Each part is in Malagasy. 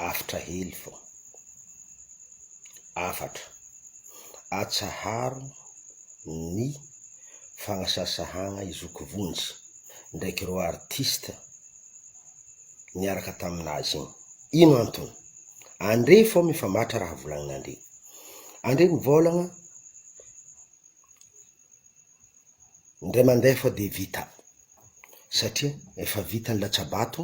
Aftra hely vao. Afatra. Atsaharo ny fagnasasahagna i Zoky Vonjy ndraiky reo artiste niaraka taminazy igny. Ino antony? Andre fô mifamatra raha volagninandre. Andre mivôlagna ndray mandeha fô de vita satria efa vita ny latsabato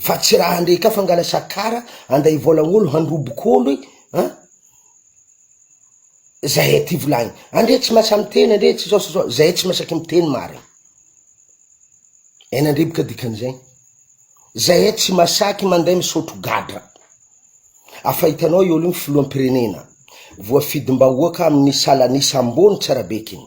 fa tsy raha ande ka fangala sakara anday vola olo handroboko olo e an, zay aty volagny andre tsy masa miteny andre tsy zao sy zao zay tsy masaky miteny marigny en andre boka dikan'izay zay e tsy masaky manday misotro gadra afa hitanao i olo igny filoham-pirenena voafidim-bahoaka amin'ny salan'isa ambony tsara bekiny.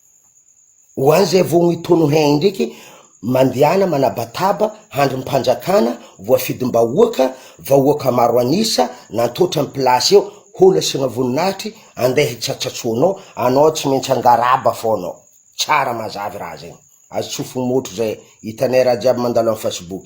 Ho an' izay voa mi tono hein indriky mandehana manabataba handry ny mpanjakana voafidim-bahoaka vahoaka maro an'isa nantoetra ny place eo hono asiana voninahitry andeha hitsatsatsonao anao tsy maintsy hangaraba foana ao tsara mazavy raha zegny azo tsofy motro zay hitanay raha jiaby mandalo am facebook.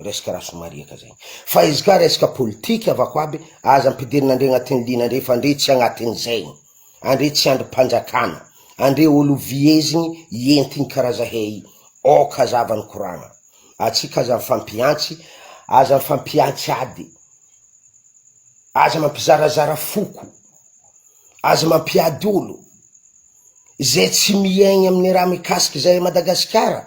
Resaka rasomariaka zay. Fa izy ka resaka politika avako aby, aza ampidirina ndry agnatin'ny liana ndry fa ndry tsy agnatin'ny zaigny. Andre tsy andrim-panjakana. Andre olo viezigny entigny karaha zahey. Ok hazava ny koragna. Atsika aza mifampiantsy, aza mifampiantsy ady. Aza mampizarazara foko. Aza mampiady olo. Zay tsy miaigny amin'ny raha mikasiky zahay Madagasikara.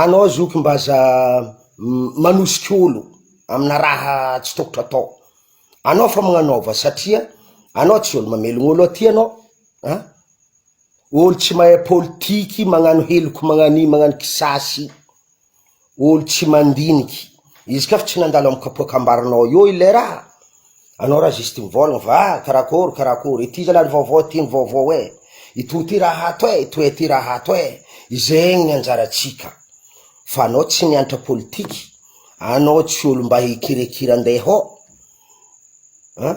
Anao zoky mba aza manosika olo amina raha tsy tokotro atao, anao fa magnanaova satria anao tsy olo mamelogna olo aty anao a, olo tsy mahay politiky magnano heloka magnano io magnano kisasy, olo tsy mandiniky, izy ka fa tsy nandalo amy kapoakambarinao eo ilay raha. Anao ra juste mivolagna va karakôry karakôry ity zalahy vaovao ity ny vaovao eh! Itoy ty raha ato eh! Itoy ty raha ato eh! Izegny ny anjaratsika fa anao tsy miantra politique, anao tsy olo mba hikirakira andeha hô an!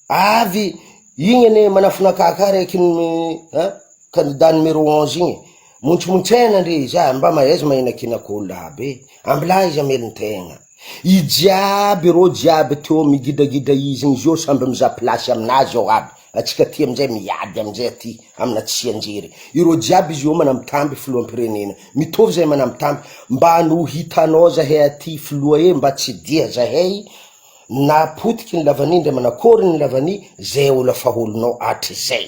Avy igny anie manafinaka ka raiky an! Candidat numéro onze igny montsomontsaina ndry za mba mahaiza mahinankinako olo aby e! Ambilà izy hamelon-tegna. I jiaby ireo jiaby teo am gidragidra izy ny zio samby mizaha place aminazy ao aby, atsika aty amizay miady amizay aty amina tsianjery, ireo jiaby izy eo manambitamby filohampirenena, mitovy zay manambitamby, mba no hitanao zahay aty filoha e mba tsy dia zahay na potiky ny lavani ndra manakory ny lavani zay ola faholonao atrizay.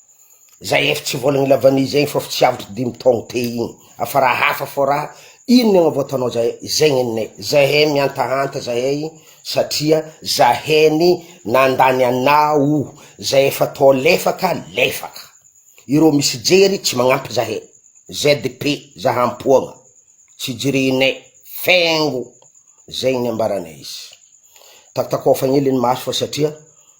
Zay efa tsy vola nila vanille zay fa tsy avotry dimy taogno teo igny afa raha hafa fô raha ino miagna vao ataonao zay zay nenay zahay mihantahanta zahay satria zahay ny nandany ana o zay efa tô lefaka lefaka ireo misy jery tsy magnampy zahay ZP zaha ampoagna tsy jerenay fengo zay ny ambaranay izy takotakofagna hely ny maso fa satria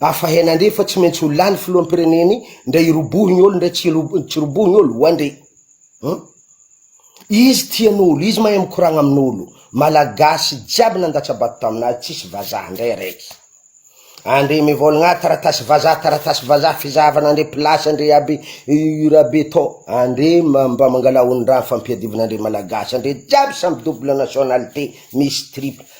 Afa hena ndre fa tsy maintsy ho lany filoham pireneny ndray hirobohy ny olo ndray tsy tsy robohy ny olo oa ndre hum izy tia ny olo izy mahay mikoragna amin olo malagasy jiaby nandatsa bato taminazy tsisy vazaha ndray araiky andre mivolagna ah taratasy vazaha taratasy vazaha fizahavana andre place andre aby io raha be to andre mba mangala hondraha fampiadivana andre malagasy andre jiaby samy double nationalité misy triple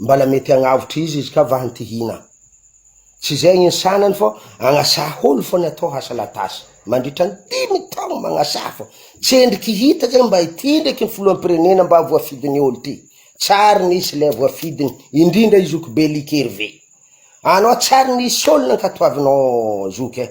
Mbala mety hagnavotra izy izy ka vahiny ty hina. Tsy zay ny sanany fô agnasaha olo fô ny atao hasalatasy. Mandritra ny dimy taogno magnasaha fô tsendriky hita zay mba ity ndraiky ny filohampirenena mba voafidiny olo ty. Tsary nisy lay voafidiny indrindra i zoky be Likerive. Anao tsary nisy olo nankatoavinao zoky eh.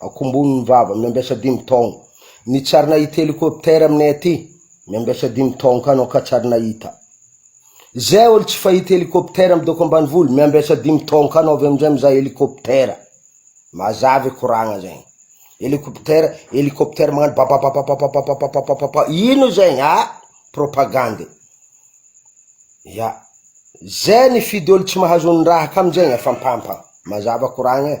Akombony ny vava, miambiasa dimy taogno. Nitsarina ity helicoptère aminay aty, miambiasa dimy taogno ka anao ka tsary nahita. Zay olo tsy fahita helicoptère am doko ambanivolo, miambiasa dimy taogno ka anao avy amizay mizaha helicoptère. Mazava e koragna zegny. Helicoptère, helicoptère magnano babababababababababababa ino zegny ah! Propagande. Ya. Zay nifidy olo tsy mahazo ny raha ka amizegny afampampagna. Mazava koragna e.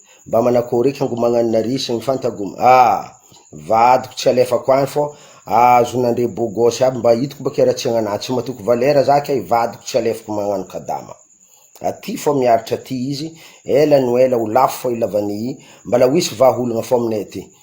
Mba manakôry eky angomagnan'ny nariz sy ny fanta gum ah! Vadiko tsy alefako any fô ahazonandre beau gosse aby mba hitako bakeo raha tsy agnanah tsy matoky valera zah kay vadiko tsy alefako magnano kadama aty fô miaritra aty izy ela no ela ho lafo fô i lavanie i mbala ho hisy vaha olagna fô aminay aty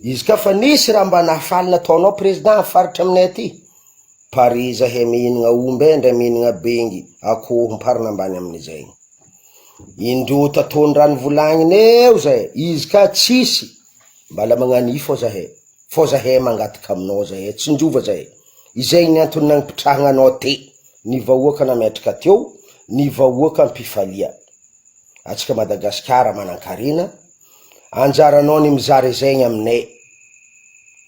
Izy ka fa nisy raha mba nahafaly nataonao président ny faritra aminay aty? Pari izahay mihinagna omby eh ndray mihinagna bengy, akoho, mparina ambany amin'izay. Indroa taton'ny raha nivolagnina eo zay, izy ka tsisy, mbala magnano ifo zahay, fô zahay mangataka aminao zahay, tsinjova zahay, izay ny antony nagnipitrahagna anao aty, ny vahoaka nametraka teo, ny vahoaka mpifalia. Atsika Madagasikara manankarena, Anjaranao ny mizara izay ny aminay.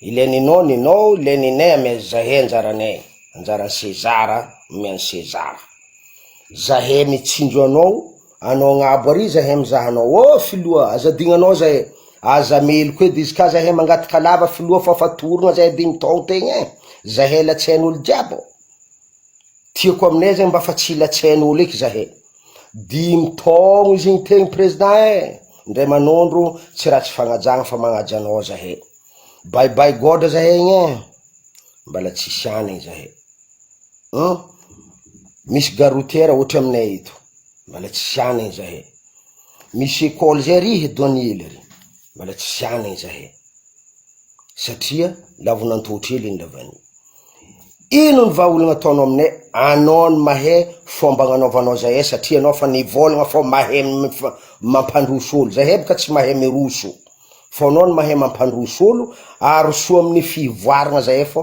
Ilay ninao, ninao, ilay ninay amy zahay anjaranay. Anjaran'i Sezara, omeo an'i Sezara. Zahay mitsinjo anao, anao agnabo ary zahay mizaha anao. Oh filoha, aza adignanao zahay, aza meloka edy izy ka zahay mangataka lava filoha fa fatorogna zahay dimy taon tegna eh, zahay latsain'olo jiaby. Tiako aminay zany mba fa tsy hilatsahan olo eky zah e! Dimy taogno izy igny teo ny président e! Ndray manondro tsy ratsy fagnajagna fa magnaja anao zah e! Bye bye gôdra zah egny e! Mbala tsisy hanigny zah e! Humm! Misy gare routière ohatry aminay eto mbala tsisy hanigny zah e! Misy école zay ary e Donia lery mbala tsisy hanigny zah e! satria lavon'antoho kely iny lavany iny. Ino ny vaha olana ataonao aminay? Anao no mahay fomba agnanaovanao zahay satria anao fa nivôlagna fô mahay mampandroso olo, zahay bôka tsy mahay miroso fô anao no mahay mampandroso olo, aroso amin'ny fivoaragna zahay fô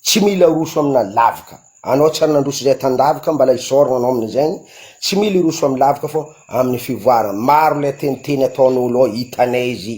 tsy mila aroso amina lavaka, anao tsy ary nandroso zahay tan-davaka mbala isaoragna anao amin'izegny, tsy mila hiroso amin'ny lavaka fô amin'ny fivoaragna, maro le teniteny ataon'olo ao hitanay izy.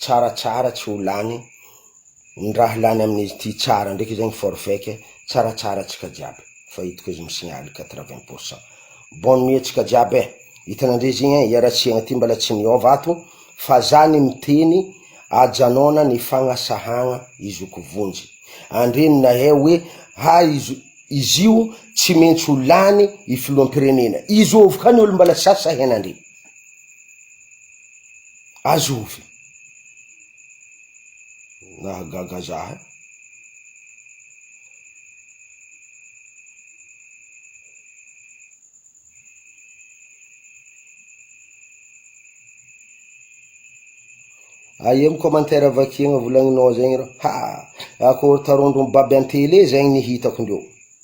Tsara tsara tsy ho lany ny raha lany amin'izy ity tsara ndraiky zegny forfec tsara tsara tsika jiaby fa hitako izy misignaly quatre vingt pour cent bonne nuit tsika jiaby eh hitanandre zegny eh iaratsiagna ty mbala tsy niova ato fa za ny miteny ajanona ny fagnasahagna izoko vonjy andre ny nahe hoe ha izo izio tsy mentsy ho lany i filohampirenena izovy ka ny olo mbala sasa henandre. Azo ovy. Nahagaga za eh. Aia am commentaire vakiagna volagninao zegny rô, ha akory tarondro mibaby an-tele zegny ny hitako ndreo.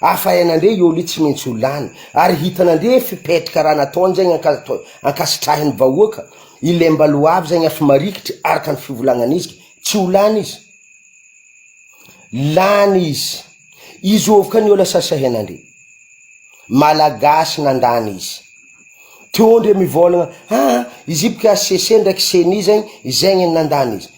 Afahain'Andria i Oly tsy maintsy ho lany, ary hitan'Andria fipetraka raha nataony zegny anka-to ankasitrahin'ny vahoaka, i Lembaloavy zegny efa marikitry araka ny fivolagnan'izy, tsy ho lany izy. Lany izy. Izy ovoka ny ola sasahen'Andria. Malagasy nandany izy. Teo Andria mivôlagna, aa izy boka HCC ndraiky ceni zegny, zegny ny nandany izy.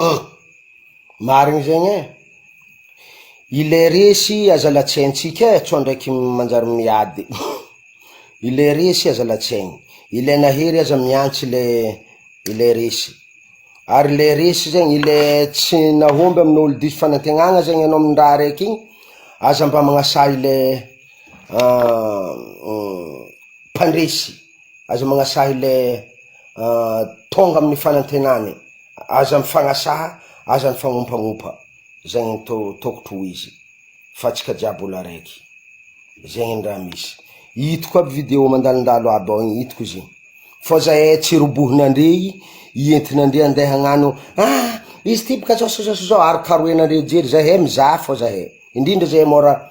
Hum marina zegny e, ilay resy aza latsiaintsika e, sao ndraiky manjary miady, ilay resy aza latsiainy, ilay nahery aza mihantsy le le resy, ary le resy zany le tsy nahomby amin'ny olo diso fanantenana zany enao amin'ny raha raiky iny aza mba manasahy le mpandresy. Aza magnasaha ilay tonga amin'ny fanantenany, aza mifagnasaha, aza ny fagnompagnompa, zegny no to tokotro ho izy fa tsika jiaby olo araiky, zegny ny raha misy, itako aby video mandalondalo aby ao igny itako izy igny, fô zahay tsy robohina ndre i entina ndre ande hagnano ah izy ty bôka zao sy zao sy zao, arokaroenandre jery, zahay mizaha fô zahay, indrindra zahay môra.